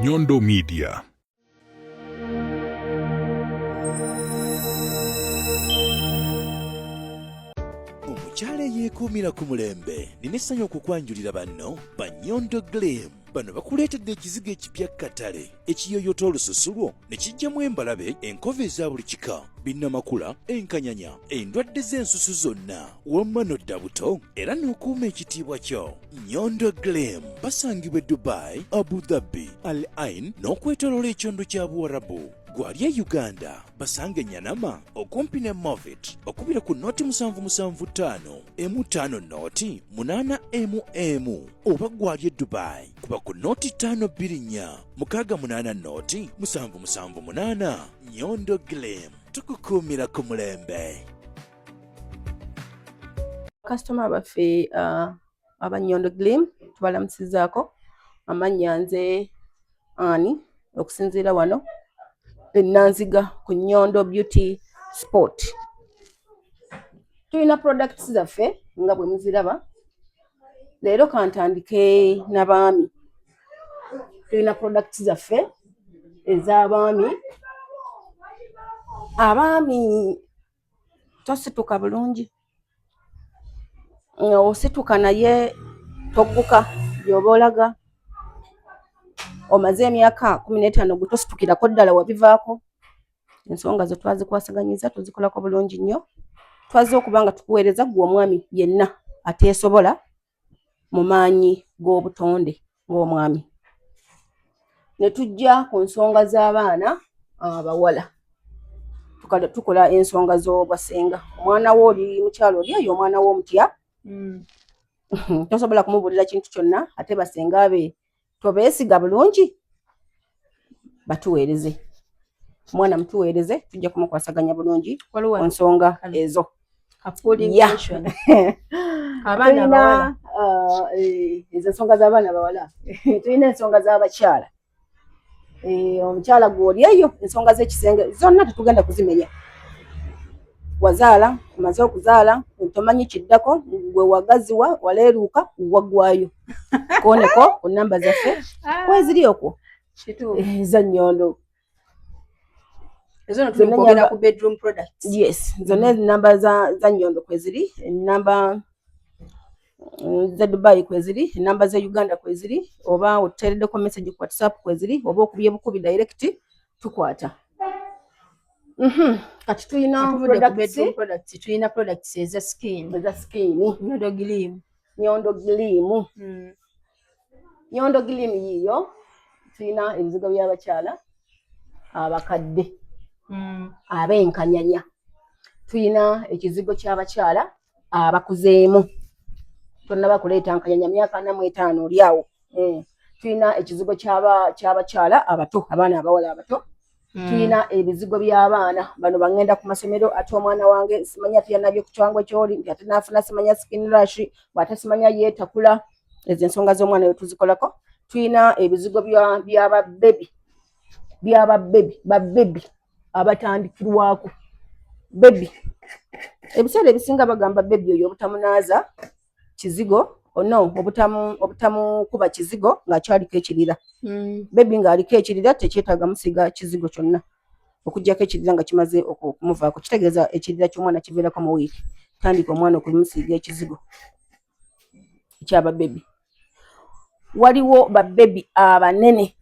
Nyondo Media. omukyala eyeekuumira ku mulembe nina essanyu okukwanjulira banno ba nyondo glim bano bakuleetedde ekizigo ekipya katale ekiyoyota olususu lwo ne kijjamu embalabe enkova eza buli kika binnamakula enkanyanya endwadde z'ensusu zonna wamma nodda buto era n'okuuma ekitiibwa kyo nyondo glem basangibwa e dubai abu dhabi al ain n'okwetoloola ekyondo kya buwarabu Gwalya Uganda basange Nyanama okumpi ne Movit okubira ku noti musanvu musanvu ttaano emu ttaano noti munaana emu emu oba gwalya Dubai kuba ku noti ttaano bbiri nnya mukaaga munaana noti musanvu musanvu munaana Nyondo Glim tukukuumira ku mulembe. Kasitoma baffe uh, aba Nyondo Glim tubalamusizaako amannya nze ani okusinziira wano enanziga ku Nyondo Beauty Sport tulina products zaffe nga bwe muziraba leero kantandike nabaami tulina products zaffe ez'abaami abaami tosituka bulungi nga osituka naye togguka gyoba olaga omaze emyaka kumi n'etaano gwe tositukirako ddala wabivaako ensonga zo twazikwasaganyiza tuzikolako bulungi nnyo twaze okuba nga tukuweereza gwe omwami yenna ateesobola mu maanyi g'obutonde ng'omwami ne tujja ku nsonga z'abaana abawala tukola ensonga z'obwasenga omwana wo oli mukyalo oli eyo omwana wo omutya hmm. tosobola kumubuulira kintu kyonna ate basenga be tobeesiga bulungi batuweereze omwana mutuweereze tujja kumukwasaganya bulungi ku nsonga ezo abaana uh, eh, ezo nsonga z'abaana bawala tulina ensonga z'abakyala Eh, omukyala gwoli eyo ensonga z'ekisenge zonna tetugenda kuzimenya wazaala omaze okuzaala tomanyi kiddako gwe wagaziwa waleeruuka waggwayo koneko ku namba zaffe ah. kweziri okwo eh, eza nnyondo yes zonna enamba za nnyondo kweziri enamba mm, ze dubai kweziri enamba ze uganda kweziri oba otuteereddeko message ku whatsapp kweziri oba okubye bukubi direct tukwata mhm. kati tulina tulina products eza skin eza skin nyondo gilimu nyondo gilimu hmm. nyondo gilimu yiyo tulina ebizigo by'abakyala abakadde hmm. abenkanyanya tulina ekizigo ky'abakyala abakuzeemu tonnaba kuleeta nkanyanya myaka ana mu etaano oli awo eh, tulina ekizigo ky'abakyala abato abaana abawala abato hmm. tulina ebizigo by'abaana bano bangenda ku masomero ate omwana wange simanya tuyanabye ku kyango kyoli nti ate naafuna simanya skin rush bwate simanya yeetakula ezo ensonga z'omwana yo tuzikolako tulina ebizigo bya babebi byaba bebi ba bebi abatandikirwako bebi ebiseera ebisinga bagamba bebi oyo obutamunaaza kizigo ono oh obutamukuba kizigo ngaakyaliko ekirira hmm. bebi ngaaliko ekirira tekyetaaga musiga kizigo kyonna okujjako ekirira nga kimaze okumuvaako kitegeeza ekirira ky'omwana kiveerako mu wiiki tandika omwana okumusiiga ekizigo kyaba bebi waliwo babebi abanene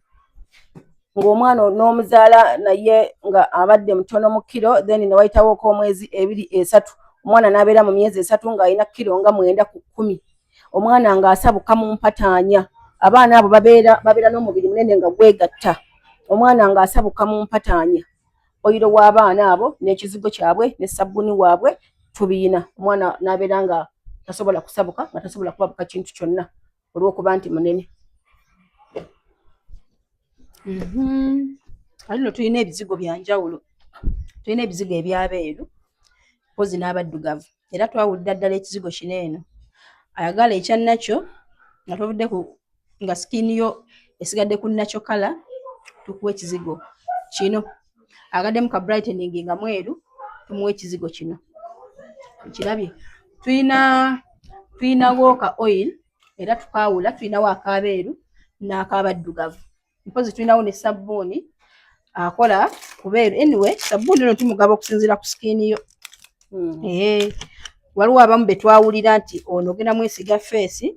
ng'omwana n'omuzaala naye nga abadde mutono mu kiro then newayitawooko omwezi ebiri esatu omwana n'abeera mu myezi esatu ng'alina kiro nga mwenda ku kkumi omwana ng'asabuka mu mpataanya abaana abo babeera babeera n'omubiri munene nga gwegatta omwana ng'asabuka mu mpataanya oyiro w'abaana abo n'ekizigo kyabwe ne sabbuni waabwe tubiyina omwana n'abeera nga tasobola kusabuka nga tasobola kubabuka kintu kyonna olw'okuba nti munene mhm. ali no tulina ebizigo bya njawulo tulina ebizigo ebyabeeru mpozi n'abaddugavu era twawulira ddala ekizigo kino eno ayagala ekyannakyo nga tuvudde ku nga skin yo esigadde ku natural color tukuwa ekizigo kino agaddemu ka brightening nga mweru tumuwa ekizigo kino okirabye tulina tulinawo ka oil era tukaawula tulinawo akaabeeru n'akaabaddugavu mpozi tulinawo ne sabbuuni akola kubeeru anyway sabbuuni ono tumugaba okusinziira ku sikiini yo hmm. ee waliwo abamu be twawulira nti ono ogenda mwesiga feesi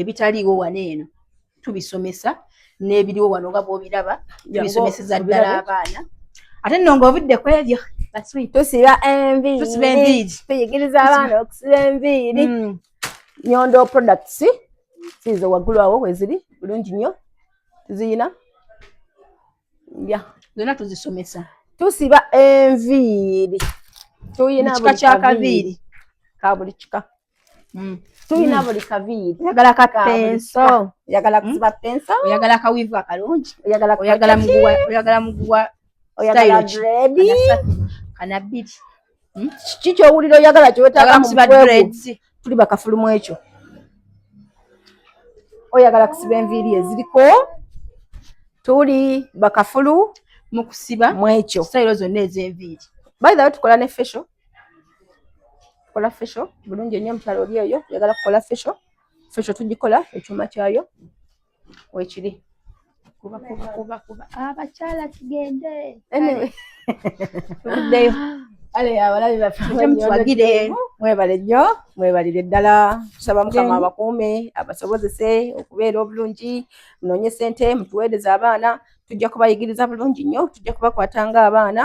ebitaliiwo wano eno tubisomesa n'ebiriwo wano nga bwobiraba tubisomeseza ddala abaana ate nno ng'ovudde ku ebyo tusiba enviiri tuyigiriza abaana okusiba enviiri mm. nyondo products siizo waggulu awo weziri bulungi nnyo tuziyina ya zonna tuzisomesa tusiba enviiri tuyina buli kaviiri ka buli kika Mm. tulina mm. buli kaviiri oyagala ka penso oyagala kusiba mm. penso oyagala kawivu akalungi oyagala muguwa oyagala muguwa oyagala dredi kana bbiri kiki kyowulira oyagala kyewetaaga musiba dredi tuli bakafulumu ekyo oyagala kusiba enviiri eziriko tuli bakafulu mukusiba mwekyo sitayiro zonna ez'enviiri bayithawe tukola ne fesho kola fesho bulungi ennyo omukyalo oli eyo yagala kukola fesho fesho tugikola ekyuma kyayo wekiri kubakubakubakuba abakyala ah, tugende tuddeyo ale abalabi bafemutuwagire mwebale nnyo mwebalire ddala tusaba mukama abakuume abasobozese okubeera obulungi munoonye sente mutuweereze abaana tujja kubayigiriza bulungi nnyo tujja kubakwata nga abaana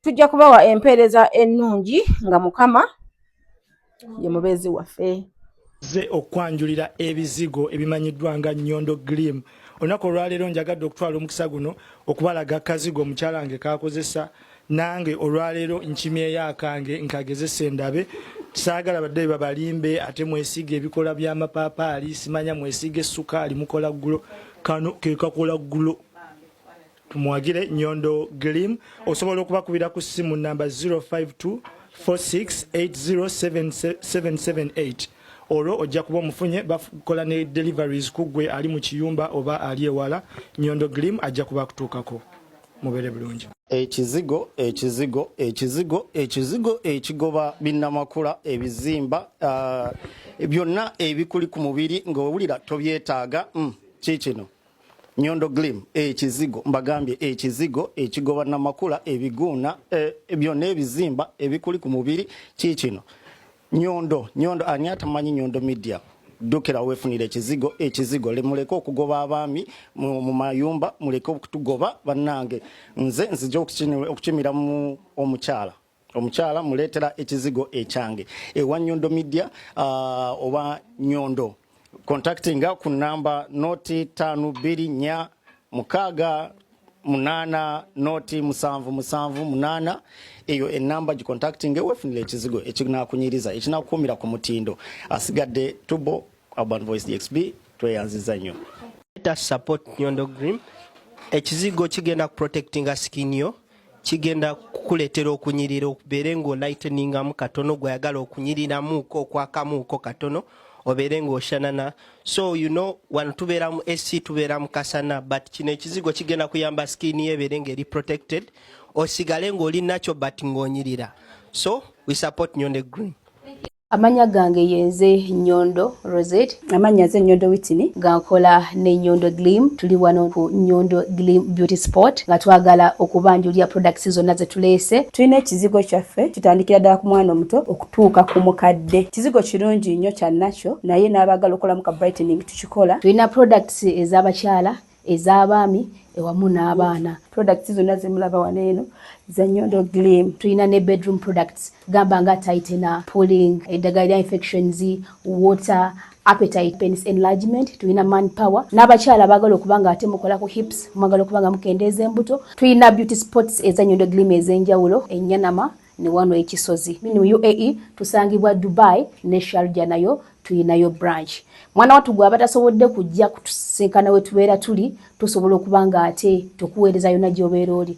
tujja kubawa empeereza ennungi nga mukama ye mubeezi waffe ze okwanjulira ebizigo ebimanyiddwa nga nyondo glim olunaku olwaleero njagadde okutwala omukisa guno okubalaga kazigo omukyala nge kakozesa nange olwaleero nkimyeyo akange nkagezesa endabe saagala badde babalimbe ate mwesiiga ebikola by'amapaapaali simanya mwesiiga essukaali mukola ggulo kano ke kakola ggulo Tumwagire Nyondo Glim osobola okubakubira ku ssimu namba 0524680778 olwo ojja kuba omufunye bakola ne deliveries ku ggwe ali mu kiyumba oba ali ewala Nyondo Glim ajja kuba akutuukako mubeere bulungi ekizigo ekizigo ekizigo ekizigo ekigoba binnamakula ebizimba uh, byonna ebikuli ku mubiri ng'owulira tobyetaaga mm, kiikino nyondo glim ekizigo eh, mbagambye ekizigo eh, ekigoba eh, namakula ebiguuna byonna ebizimba ebikuli ku mubiri kiikino nyondo nyondo ani atamanyi nyondo media dukira wefunire ekizigo ekizigo lemuleke okugoba abaami mu mayumba muleke okutugoba bannange nze nzija okukimiramu omukyala omukyala muleetera ekizigo ekyange ewa nyondo media uh, oba nyondo contactinga ku namba noti tano bbiri nya mukaaga munana noti musanvu musanvu munana eyo enamba gicontactinga ewefunira ekizigo ekinakunyiriza ekinakuumira ku mutindo asigadde tubo urban voice dxb tweyanziza nnyo support nyondo green ekizigo kigenda kuprotectinga skin yo kigenda kukuleetera okunyirira okubeere ng'olighteningamu katono gweyagala okunyiriramuuko okwakamuuko katono obeere ng'oshanana so you know wano tubeera mu ac tubeera mu kasana but kino ekizigo kigenda kuyamba skin yo ebeere ng'eri protected osigale ng'oli nakyo but ng'onyirira so we support nyonde green Amanya gange yenze Nyondo Rosette. Amanya ze Nyondo Whitney. Gankola ne Nyondo Glim. Tuli wano ku Nyondo Glim Beauty Spot nga twagala okubanjulira products zonna ze tuleese. Tulina ekizigo kyaffe kitandikira ddala ku mwana omuto okutuuka ku mukadde. Kizigo kirungi nnyo kya natural naye n'abaagala okukolamu ka brightening tukikola. Tulina products ez'abakyala. ez'abaami ewamu n'abaana products zonna zemulaba wano eno za nyondo glim tulina ne bedroom products gamba nga tightener pulling eddagala lya infections water appetite penis enlargement tulina man power n'abakyala baagala okuba nga ate mukola ku hips mwagala okuba nga mukendeeza embuto tulina beauty sports eza nyondo glim ez'enjawulo enyanama ne wano e Kisozi mini mu UAE tusangibwa Dubai ne Sharjah nayo tuyinayo branch mwana watu gwe abatasobodde kujja kutusinkana wetubeera tuli tusobola okuba nga ate tukuweereza yona gyobeera oli